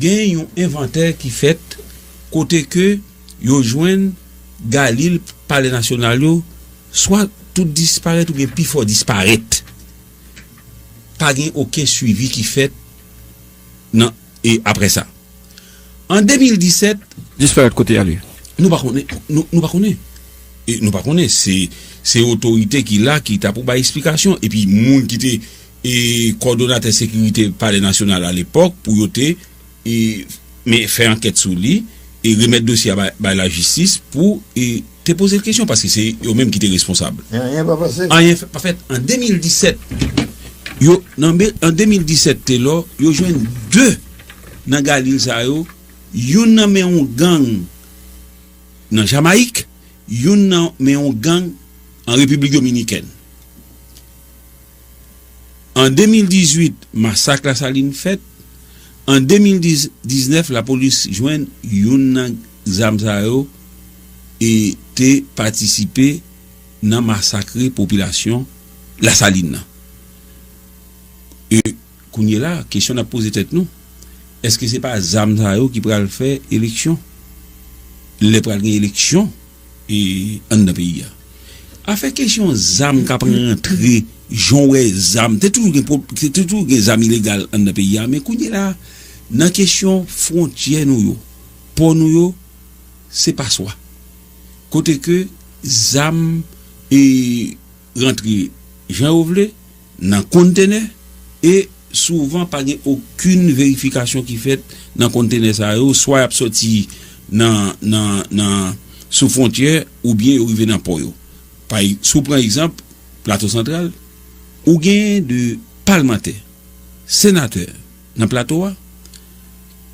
Gen yon envantè ki fèt kote ke yo jwenn galil palè nasyonal yo swa tout disparèt oubyen pi fò disparèt. Pa gen oken swivi ki fèt nan e aprè sa. An 2017. Disparèt kote y ale? Nou pa konnen. Nou pa konnen. Nou pa konnen. Se otorite ki la ki ta pou bay esplikasyon. Epi moun ki te e kòdonatè sekirite palè nasyonal alepòk pou yo te e men fè ankèt sou li e remèt dosye a bay lajistis pou e te poze l kesyon paske se yo menm ki te responsab. Men anyen pa pase. Anyen pa fèt an 2017 yo nan men an 2017 Telor yo jwenn 2 nan galil sa yo youn nan men yon gang nan jamayik youn nan men yon gang an repiblik dominikèn. An 2018, masak Lasalin fèt. An 2019, lapolis jwenn youn nan zam sa yo e te patisipe nan masakre popilasyon Lasalin nan. E kounyela, kesyon n ap poze tèt nou, èske se pa zam sa yo ki pral fè eleksyon? Lè pral gen eleksyon? anndan peyi a. Afè kesyon zam k ap rantre, jan w wè zam, te toujou gen pwob, te toujou gen zam ilegal anndan peyi a, men kounye la a, nan kesyon fwontyè nou yo, pò nou yo, se paswa. Kote ke zam e rantre jan yo vle, nan konntenè, e souvan pa gen okin verifikasyon ki fèt nan konntenè sa yo, swa y ap sòti nan sou fwontyè oubyen yo rive nan pò yo. Si w pran egzanp Plato Santral, ou gen de palmantè, senatè, Nan plato a,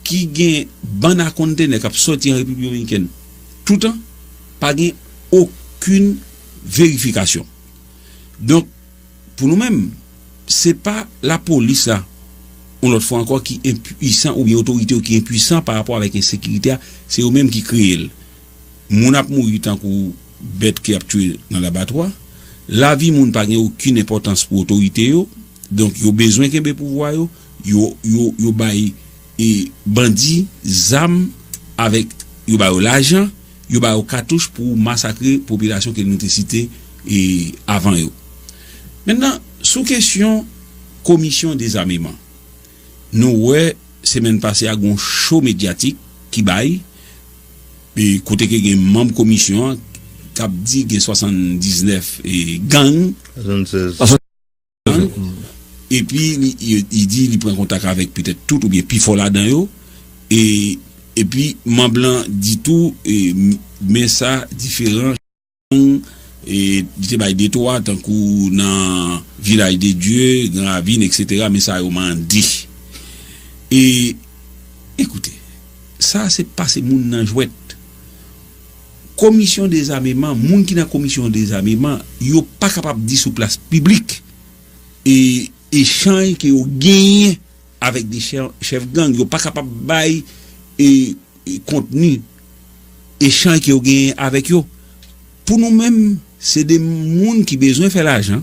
ki gen bann a kontenè k ap sòti an Repiblik Dominikèn toutan, pa gen okenn verifikasyon. Donk, pou nou menm, se pa lapolis la, yon lòt fwa ankò, ki enpuisan oubyen otorite yo ki enpuisan parapò avèk ensekirite a, se yo menm ki kreye l. Moun ap mouri tankou bèt ke y ap touye nan labatwa. Lavi moun pa gen okin enpòtans pou otorite yo, donk yo bezwen kenbe pouvwa yo, yo bay bandi zam avèk yo ba yo lajan, yo ba yo katouch pou masakre popilasyon ke nou te site avan yo. Mentnan, sou kesyon komisyon dezameman. Nou wè semèn pase a gen yon cho medyatik ki bay, kote ke gen manm komisyon an k ap di gen 79 gang, 76 gang, epi li di li pran kontak avèk petèt tout oubyen pi fò ladan yo, epi manm lan di tou men sa diferan. gang, li te bay detwa tankou nan Village de Dieu, Grand Ravine etc. Men sa yo mande. E ekoute, sa a se pase moun nan jwèt. Komisyon dezameman, moun ki nan komisyon dezameman, yo pa kapab di sou plas piblik e echanj ke yo genyen avèk de chèf gang. Yo pa kapab bay e. kontni echanj ke ou genyen avèk yo. Pou nou menm, se 2 moun ki bezwen fè lajan,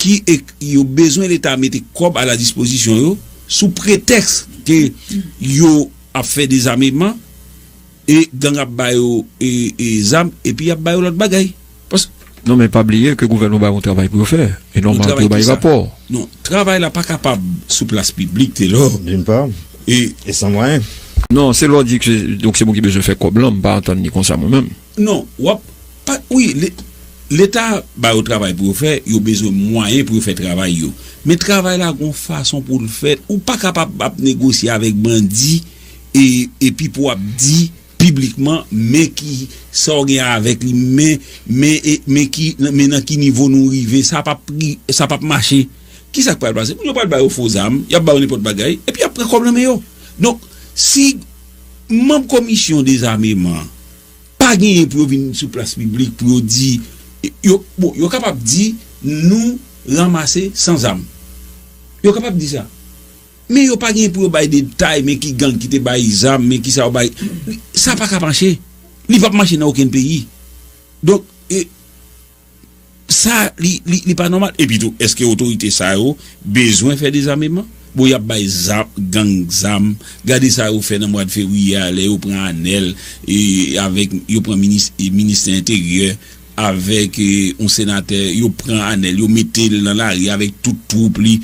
ki yo bezwen leta mete kòb a la dispozisyon yo, sou pretèks ke yo ap fè dezameman, e gang ap ba yo zam, epi y ap ba yo lòt bagay. Paske. Non men pa bliye ke gouvènman ba yo yon travay pou yo fè. E nòmal pou yo bay rapò. Non, travay la pa kapab sou plas piblik Telor. D'une part, e san mwayen. Non, se lè w di ke donk se mwen ki bezwen fè kòb lan, m pa antann li konsa mwen menm. Non, w ap. Pa, wi, leta ba yo travay pou yo fè, yo bezwen mwayen pou yo fè travay yo. Men travay la gen yon fason pou l fèt. Ou pa kapab ap negosye avèk bandi e epi pou w ap di. piblikman men ki sa w gen avèk li men men e men ki men nan ki nivo nou rive sa p ap ri sa p ap mache ki sa k pral pase moun yo pral ba yo fo zam y ap ba yo nenpòt bagay epi y ap pran kòb nan men yo donk si manb komisyon dezameman pa genyen pou yo vin sou plas piblik pou yo di yo bon yo kapab di nou ranmase san zam yo kapab di sa. Men yo pa gen pou yo bay detay men ki gang ki te bay zam men kisa yo bay sa pa ka mache li pap mache nan okenn peyi donk e sa li pa nòmal epi tou eske otorite sa yo bezwen fè dezameman bon yap bay zam gang zam gade sa yo fè nan mwad fevriye a lè yo pran anèl e avèk yo pran minis ministè enteryè avèk yon senatè yo pran anèl yo metel nan lari avèk tout twoup li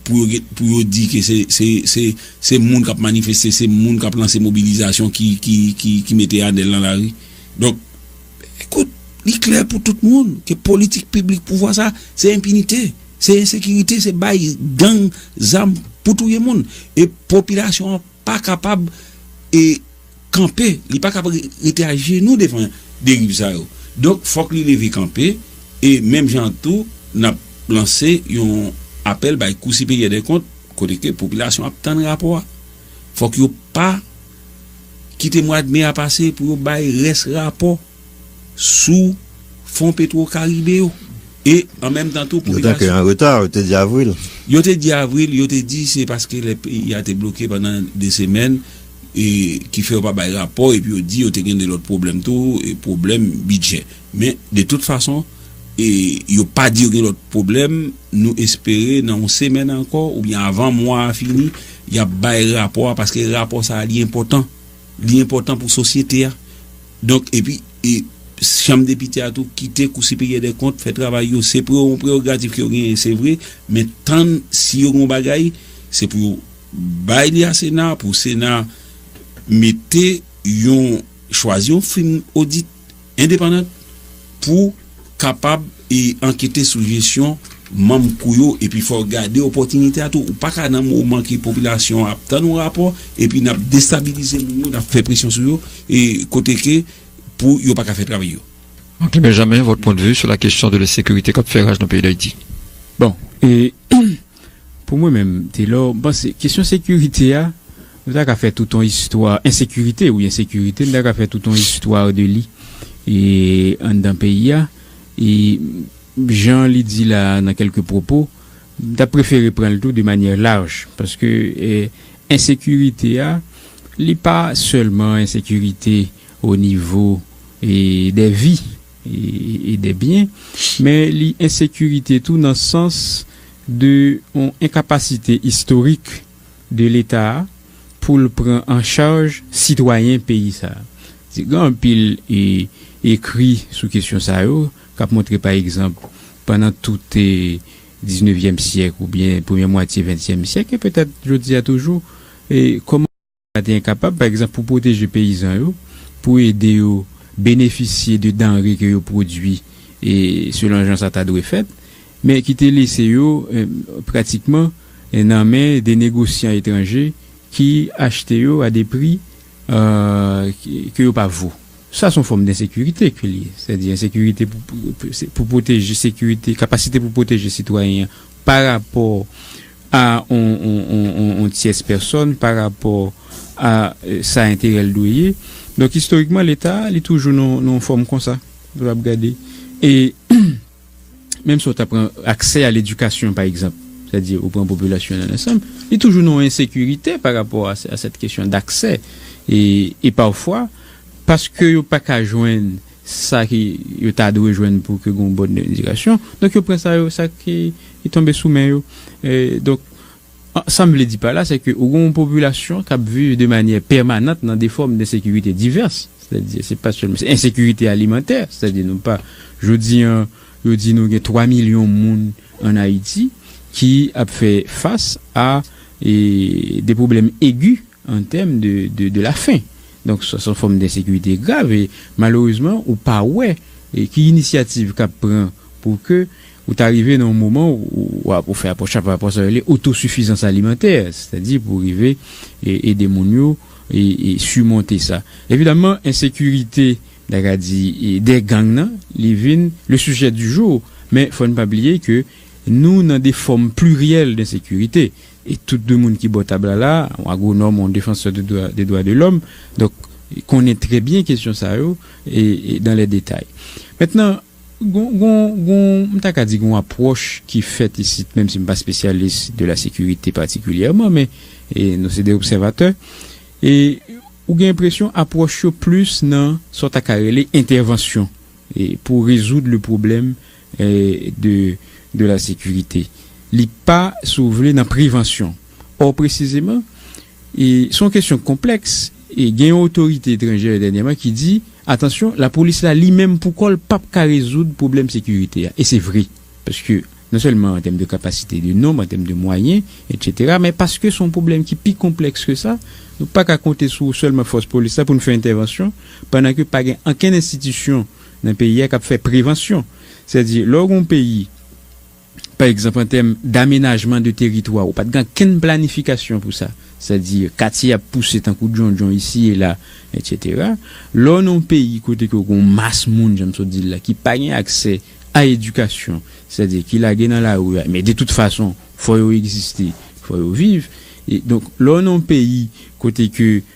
pou yo di ke se moun kap manifeste se moun kap lanse mobilizasyon ki mete anèl nan lari donk ekout li klè pou tout moun ke politik piblik pouvwa sa se enpinite se ensekirite se bay gang zam pou touye moun e popilasyon pa kapab kanpe li pa kab rete a jenou devan deriv sa yo donk fòk li leve kanpe e menm jan an tou nap lanse yon apèl bay kou siperyè dè kont kote ke popilasyon ap tann rapò a fòk yo pa kite mwad me a pase pou yo bay rès rapò. sou fon petwo karibe yo e an menm tan tou pou migrasyon. Yo te antre an reta, yo te di avril. Yo te di avril, yo te di se paske lè peyi a te bloke pandan 2 semèn e ki fè yo pa bay rapò epi yo di yo te gen 2 lòt pwoblèm tou e pwoblèm bidjè men de tout fason e yo pa di yo gen lòt pwoblèm nou espere nan yon semèn ankò oubyen avan mwa a fini y ap bay rapò a paske rapò sa a li enpòtan li enpòtan pou sosyete a. Donk, epi, e, Chanm Depite a tou kite Kou Siperyè dè Kont fè travay yo. Se pre yon prerogatif ke yo genyen, se vre, men tann si yo gen yon bagay, se pou yo bay li a Sena a, pou Sena a mete yon, chwazi yon fim odit endepandant pou. kapab ankete sou jesyon manm kou yo epi fò w gade opòtinite a tou. Ou pa ka nan moman ke popilasyon an ap tann yon rapò epi n ap destabilize moun yo, n ap fè presyon sou yo kote ke pou yo pa ka fè travay yo. Martin Benjamin, votre point de vue sur la question de l'insécurité kap fè raj nan peyi d'Haïti? Bon, e. Pou mwen menm, Telor, m panse kesyon sekirite a, nou ta ka fè tout yon istwa, ensekirite, wi ensekirite, nou ta ka fè tout yon istwa de li e anndan peyi a. E jan li di la a nan kèlke pwopo, m ta prefere pran l tou de manyè laj. Paske ensekirite a, li pa sèlman ensekirite o nivo e dè vi. e dè byen, men li ensekirite tou nan sans de yon enkapasite istorik de leta a pou l pran an chaj sitwayen peyi sa a. Se gen anpil ekri sou kesyon sa yo k ap montre pa egzanp pandan tout diznevyèm syèk oubyen premye mwatye ventyèm syèk e petèt jodi a toujou kòman. Leta te enkapab, pa egzanp, pou pwoteje peyizan yo, pou ede yo benefisye de danre ke yo pwodui selon jan sa ta dwe fèt, men ki te lese yo pratikman nan men de negosyan etranje ki achte yo a de pri ke yo pa vo. Sa son fòm densekirite ke li ye, sètadi ensekirite pou pwoteje sekirite, kapasite pou pwoteje sitwayen an. pa rapò a yon tyès pèsòn, pa rapò a sa enterè l dwe ye. Donk, istorikman, Leta a, li toujou nan yon fòm konsa, lè w ap gade. E, menm si w ta pran aksè a ledikasyon, pa egzanp, sètadi ou pran popilasyon an ansanm, li toujou nan yon ensekirite pa rapò a sèt kesyon daksè. E, pafwa, paske yo pa ka jwenn sa ke yo ta dwe jwenn pou ke gen yon bòn edikasyon, donk yo pran sa yo, sa ki tonbe sou men yo. Donk, sa m vle di pa la, se ke ou gen yon popilasyon k ap viv de manyè pèmanant nan de fòm de sekirite divès, sètadi se pa sèlman, se ensekirite alimantè, sètadi nou pa, jodi an, yo di nou gen 3 milyon moun an Ayiti ki ap fè fas a de pwoblèm egi. en terme de de de la faim donk sa son fòm d'insécurité grav e malerezman ou pa wè ki inisyativ kap pran pou ke ou ta rive nan yon moman ou fè apwòch la pa rapò sa yo rele otosifizans alimantè sètadi pou rive ede moun yo simonte sa evidaman ensekirite m ta ka di de gang nan li vin le sujet du jour men fòn pa bliye ke nou nan de fòm pliryèl d'insekirite E tout de moun ki bò tab la la, yon agwonòm, yon defansè de dwa de dwa de lòm, donk konnen trè byen kesyon sa yo e dan lè detay. Mentnan, gon gon gon m ta ka di gon apwòch ki fèt isit, menm si m pa spesyalis de la sekirite patikilyèman, men e nou se de obsèvatè, e ou gen enpresyon apwòch yo plis nan sa w ta ka rele entèvansyon e pou rezoud le pwoblèm de la Sécurité. Li pa, si w vle, nan prevansyon. Ò presizeman, se yon kesyon konplèks e gen yon otorite etranjè dènyèman ki di, atansyon, lapolis la li menm pou kò l p ap ka rezoud pwoblèm sekirite a. E se vre. Paske non sèlman an tèm de kapasite de nonb, an tèm de mwayen, etsetera, men paske se yon pwoblèm ki pi konplèks ke sa, nou pa ka konte sou sèlman fòs polis la pou nou fè entèvansyon pandan ke pa gen ankenn enstitisyon nan peyi a k ap fè prevansyon. Sètadi, lè w gen yon peyi, pa egzanp an tèm damenajman de teritwa, ou pa t gen ankenn planifikasyon pou sa, sètadi katye ap pouse tankou djondjon isi e la, etsetera. Lè w nan yon peyi kote ke w gen yon mas moun, jan m sot di l la, ki pa gen aksè a edikasyon, sètadi ki lage nan lari a, men de tout fason, fò yo egziste, fò yo viv. Donk, lè w nan yon peyi kote ke.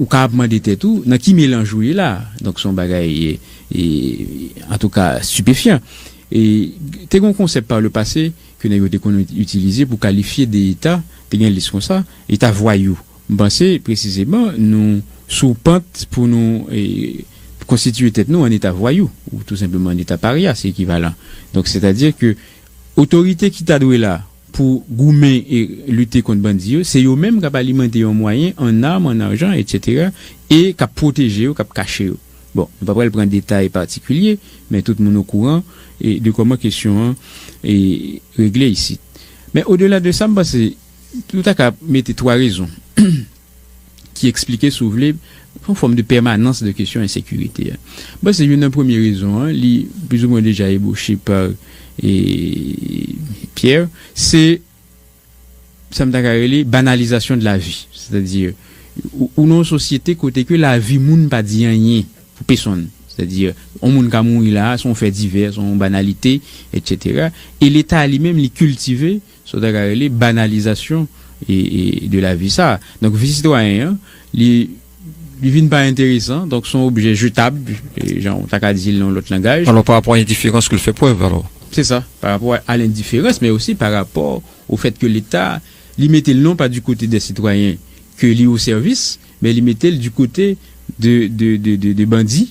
Ou ka ap mande tèt ou, nan ki melanj ou ye la? Donk se yon bagay, antouka, stipefyan. Te gen yon konsèp pa le pase ke nèg yo te konn itilize pou kalifye de eta, te gen lis konsa, eta vwayou. M panse, presizeman, nou sou pant pou nou konstitiye tèt nou an eta vwayou, ou tou senpleman an eta parya, se ekivalan. Donk, sètadi ke otorite ki ta dwe la, pou goumen e lite kont bandi yo, se yo menm k ap alimante yon mwayen an arm, an arjan, etsetera e k ap pwoteje yo, k ap kache yo. Bon, nou pa pral pran detay patikilye, men tout moun okouran de kòman kesyon an regle isit. Men odela de sa, m panse nou ta ka mete twa rezon. ki eksplike si w vle, yon fòm de pèmanans de kesyon ensekirite a. M panse youn nan premye rezon an, li plizoumwen deja ebwoche pa Pierre, se sa m ta ka rele banalizasyon de la vi. Sètadi, ou nan yon sosyete kote ke la vi moun pa di anyen pou pesonn. Sètadi, yon moun ka mouri la a, se yon fè divè, se yon banalite, etc. E Leta li menm li kiltive. Sa w ta ka rele banalizasyon de lavi sa a. Donk vi sitwayen an, li vin pa enteresan, donk son objè jetab, jan w ta ka di l nan yon lòt langaj. Alò parapò a endiferans ke l fè prèv alò. Se sa, parapò a lendiferans men osi parapò o fèt ke Leta, li mete l non pa di kote dè sitwayen ke li o sèvis, men li mete l di kote de bandi.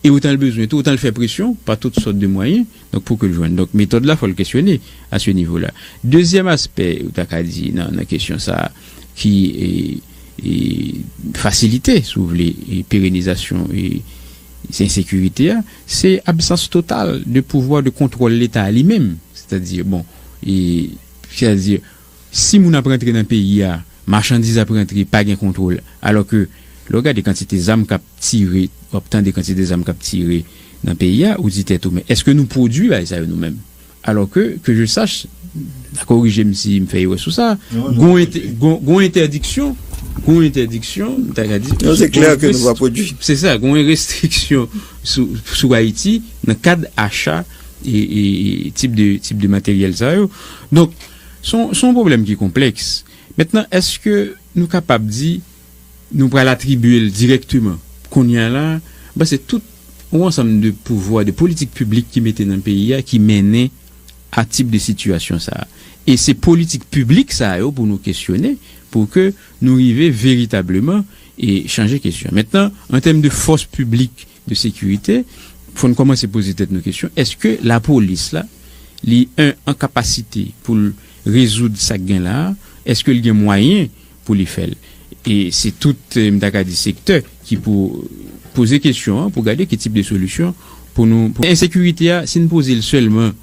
e otan l bezwen tou, otan l fè presyon pa tout sòt de mwayen, donk pou ke l jwenn. Donk metòd la fò l kesyone a se nivo la. Dezyèm aspè ou ta ka di nan nan kesyon sa a ki fasilite si w vle perenizasyon ensekirite a, se absans total de pouvwa de kontwòl leta a li menm. Sètadi bon, sètadi Si moun ap rantre nan peyi a, machandiz ap rantre pa gen kontwol. Alò ke lè w gade kantite zam kap tire, wap tande kantite zam kap tire nan peyi a, ou di tèt ou men eske nou pwodwi bagay sa yo nou menm? Alò ke, ke je sach, korije m si m fè erè sou sa, gon gon entèdiksyon, gon entèdiksyon m ta ka di, non se klè ke nou pa pwodwi. Se sa, gon restriksyon sou sou Ayiti nan kad acha e e tip de tip de materyèl sa yo. Donk. Se yon pwoblèm ki konplèks. Mentnan, èske nou kapab di nou pral atribye l dirèkteman? Kounye a la, m panse tout yon ansanm de pouvwa, de politik piblik ki mete nan peyi a ki mennen a tip de sitiyasyon sa a. E se politik piblik sa yo pou nou kesyone pou ke nou rive veritableman chanje kesyon. Mentnan, an tèm de fòs piblik, de sekirite, fò n kòmanse poze tèt nou kesyon, èske lapolis la, li 1 an kapasite pou l rezoud sa k gen la a? Èske l gen mwayen pou li fè l? E se tout, m ta ka di, sektè ki pou poze kesyon an pou gade ki tip de solisyon pou nou. Ensekirite a, si n poze l sèlman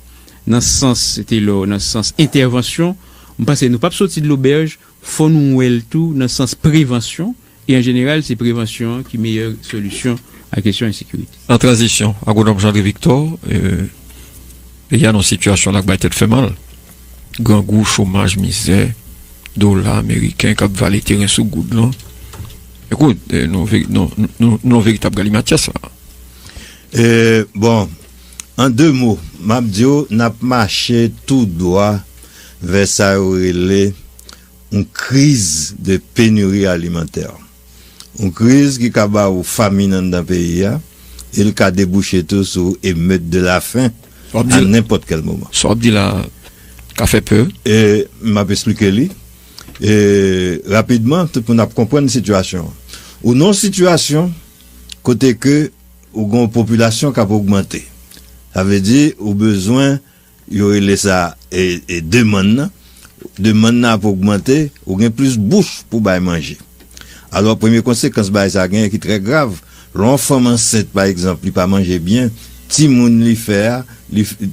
nan sans Taylor, nan sans entèvansyon, m panse nou p ap soti de lobèj, fò nou wè l tou nan sans prevansyon, E an jeneral, se prevansyon an ki meyè solisyon a kesyon ensekirite. Nan tranzisyon, Agwonòm Jean-André Victor, Peyi a nan yon sitiyasyon lak bay tèt fè mal. Grangou, chomaj, mizè, dola ameriken k ap vale teren sou goud lan. Ekout, nou nan veritab galimatyas la a. Bon, an de mo, m ap di w n ap mache tou dwa vè sa yo rele. Yon kriz de penuri alimantè. Yon kriz ki ka ba ou famin anndan peyi a e l ka debouche tou sou emeut de la fin a nenpòt kèl moman. Sa w ap di la a ka fè pè. E m ap esplike li e rapidman tout moun ap konprann sitiyasyon an. Ou nan yon sitiyasyon kote ke ou gen yon popilasyon k ap ogmante. Sa vle di ou bezwen Yo rele sa demann nan. Demann nan ap ogmante, ou gen plis bouch pou w bay manje. Alò, premye konsekans bagay sa genyen ki trè grav, lè yon fanm ansent pa egzanp, li pa manje byen, timoun li fè a,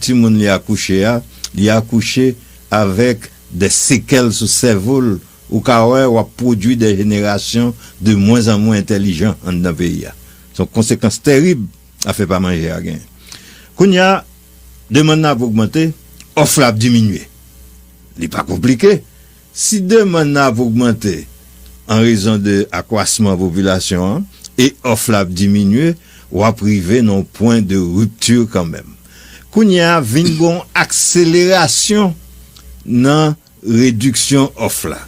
timoun li akouche a, li akouche avèk dè sekèl sou sèvo l, ou ka wè w ap pwodui dè jenerasyon de mwen an mwen entèlijan anndan peyi a. Se yon konsekans terib afè pa manje a genyen. Kounye a. demann nan ap ogmante, òf la ap diminye. Li pa konplike, si demann nan ap ogmante an rezon de akwasman popilasyon an e òf la ap diminye, w ap rive nan yon pwen de ripti kanmenm. Kounye a vin gen yon akselerasyon nan rediksyon òf la.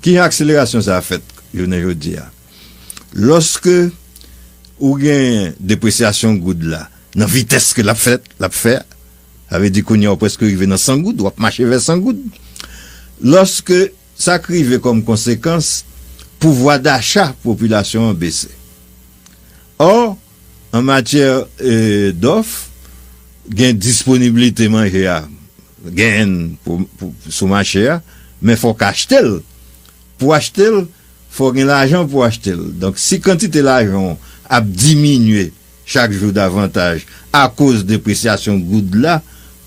Kijan akselerasyon sa a fèt jounen jodi a? Lòske ou genyen depresyasyon goud la nan vitès ke l ap fè, l ap fè a, sa vle di kounye a ou prèske rive nan 100 goud, w ap mache vè 100 goud. Lòske sa k rive kòm konsekans, pouvwa dacha popilasyon an bese. Ò, an matyè dòf, gen disponibilite manje a, genyen l sou mache a, men fò w ka achte l. Pou w achte l, fò w gen lajan pou w achte l. Donk, si kantite lajan w ap diminye chak jou davantaj akoz depresyasyon goud la,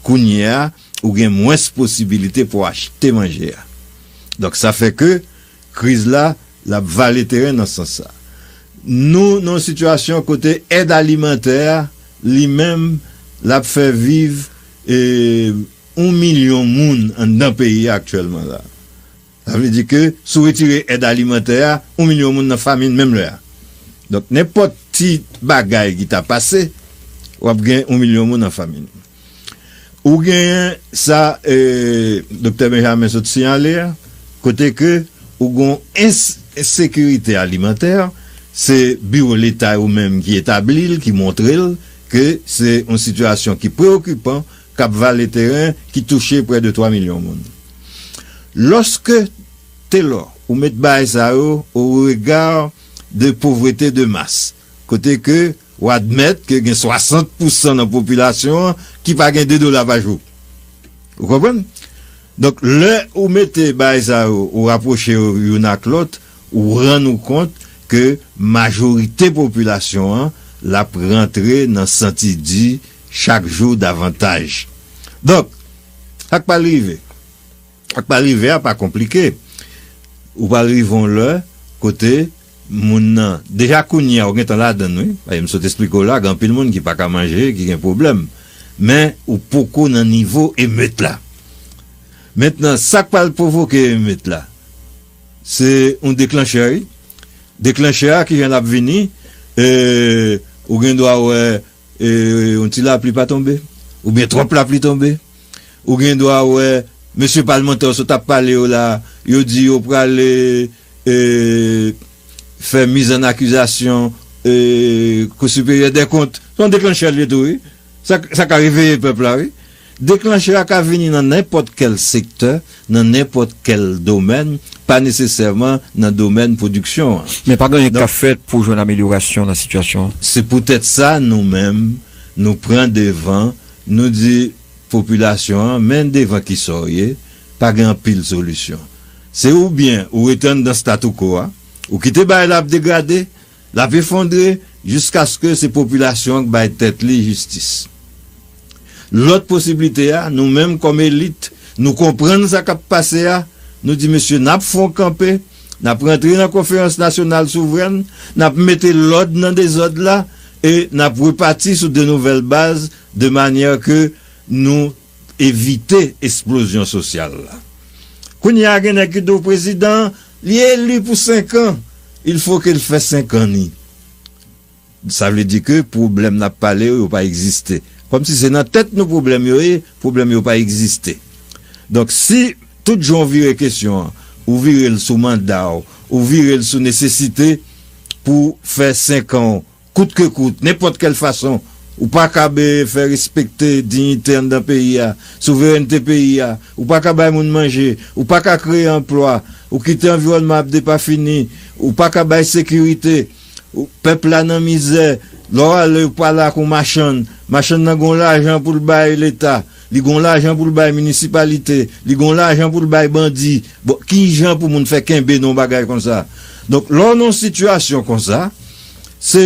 kounye a, ou gen mwens posibilite pou w achte manje a. Donk, sa fè ke kriz la, l ap vale teren nan sans sa. Nou nan yon sitiyasyon kote èd alimantè a, li menm, l ap fè viv yon milyon moun anndan peyi a aktyèlman la. Sa vle di ke si w retire èd alimantè a, yon milyon moun nan famin menm lè a. Donk nenpòt ti bagay ki ta pase, w ap gen yon milyon moun an famin. Ou genyen sa Doktè Benjamin sot siyale a, kote ke ou gen yon ensekirite alimantè, se biwo leta yo menm ki etabli l, ki montre l ke se yon sitiyasyon ki preyokipan k ap vale teren ki touche prè de 3 milyon moun. Loske Telor ou met bagay sa yo o rega de povrete de mas, kote ke w admèt ke gen 60 pou san nan popilasyon an ki pa gen 2 dola pa jou. Ou konprann? Donk lè ou mete bagay sa yo ou rapwoche yo youn ak lòt, ou rann ou kont ke majorite popilasyon an l ap rantre nan santi di, chak jou davantaj. Donk, sa k pral rive? Sa k pral rive a pa konplike. Ou pral rive yon lè kote moun nan, deja kounye a ou gen tan ladan l wi, paske m sot esplike w la gen anpil moun ki pa ka manje, ki gen pwoblèm, men ou poko nan nivo emeut la. Mentnan, sa k pral pwovoke emeut la? Se yon deklanchè wi. Deklanchè a ki jan l ap vini? Ee, ou gen dwa wè. E yon ti lapli pa tonbe, oubyen twòp lapli tonbe, ou gen dwa wè mesye palmantè ou sot ap pale yo la, yo di yo prale e fè mizannakizasyon e Kou Siperyè dè Kont. Se yon deklanchè l ye tou wi. Sa ka reveye pèp la wi. Deklanchè a ka vini nan nenpòt kèl sektè, nan nenpòt kèl domèn, pa nesesèman nan domèn pwodiksyon an. Men pa gen anyen k ap fèt pou jwenn amelyorasyon nan sitiyasyon an. Se poutèt sa nou menm, nou pran devan, nou di popilasyon an, men devan ki sa w ye, pa gen anpil solisyon. Se oubyen ou rete anndan statu quo a, ou kite bagay la ap degrade, L ap efondre jiskaske se popilasyon an k bay tèt li jistis. Lòt posiblite a, nou menm kòm elit, nou konprann sa k ap pase a, nou di mesye n ap fon kanpe, n ap rantre nan konferans nasyonal souvrèn, n ap mete lòd nan dezòd la e n ap repati sou de nouvèl baz de manyè ke nou evite esplozyon sosyal la. Kounye a gen nèg ki di w prezidan an, li eli pou 5 an, il fo ke l fè 5 an li. Sa vle di ke pwoblèm n ap pale yo, yo pa egziste. Kòm si se nan tèt nou pwoblèm yo ye, pwoblèm yo pa egziste. Donk si tout jan w vire kesyon an, ou vire l sou manda w, ou vire l sou nesesite pou fè 5 an w, Kout ke kout, nenpòt kèl fason, ou pa kab fè respekte dignite anndan peyi a, souverènte peyi a, ou pa ka bay moun manje, ou pa ka kreye anplwa, ou kite anviwònman ap depafini, ou pa ka bay sekirite, ou, pèp la nan mizè, lè w ale ou pale ak yon machann, machann nan gen yon lajan pou l bay leta, li gen yon lajan pou l bay minisipalite, li gen yon lajan pou l bay bandi, bon ki jan pou moun fè kenbe nan yon bagay konsa? Donk lè w nan yon sitiyasyon konsa, se.